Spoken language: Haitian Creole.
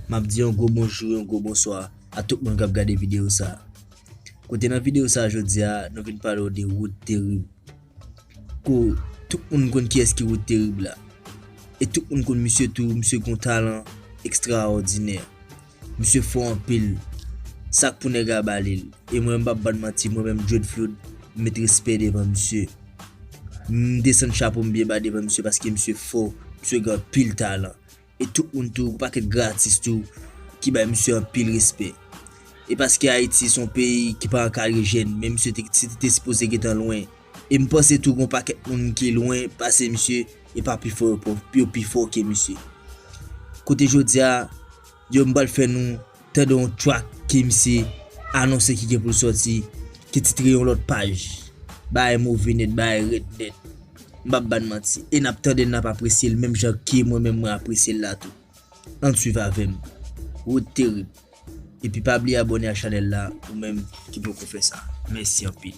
Map di yon gwo bonjou, yon gwo bonswa a tout moun kap gade videyo sa. Kote nan videyo sa jodia nou vin pale w de wout terib. Ko tout moun konn kiyes ki wout terib la. E tout moun konn misye tou, misye gon talan ekstraòdinè. Misye fò anpil. Sak pou nèg la ba li l. E mwen mpap bann manti mwen menm Dread Flood m met respè devan misye. M desann chapo m byen ba devan misye paske misye fò, misye gen anpil talan. E tout moun tou pa kèk gran atis tou ki bay misye anpil respè. E paske Ayiti son peyi ki pa an kare jèn men misye te si te sipoze gentan lwen. E m panse tou gon pakèt moun ki lwen pase misye e pa pi fò yo pò yo pi fò ke misye. Kote jodi a yo m pral fè nou Tande yon track ke misye anonse ki gen pou l sòti, ki titre yon lòt paj. Bagay move nèt, bagay rèd nèt. M pap ba n manti. E n ap tande l, n ap apresye l menm jan ke mwen menm mwen apresye l la tou. Ann swiv avè m. Rood Terib. Epi pa bliye abòne ak chanèl la ou menm ki poko fè sa. Mèsi anpil.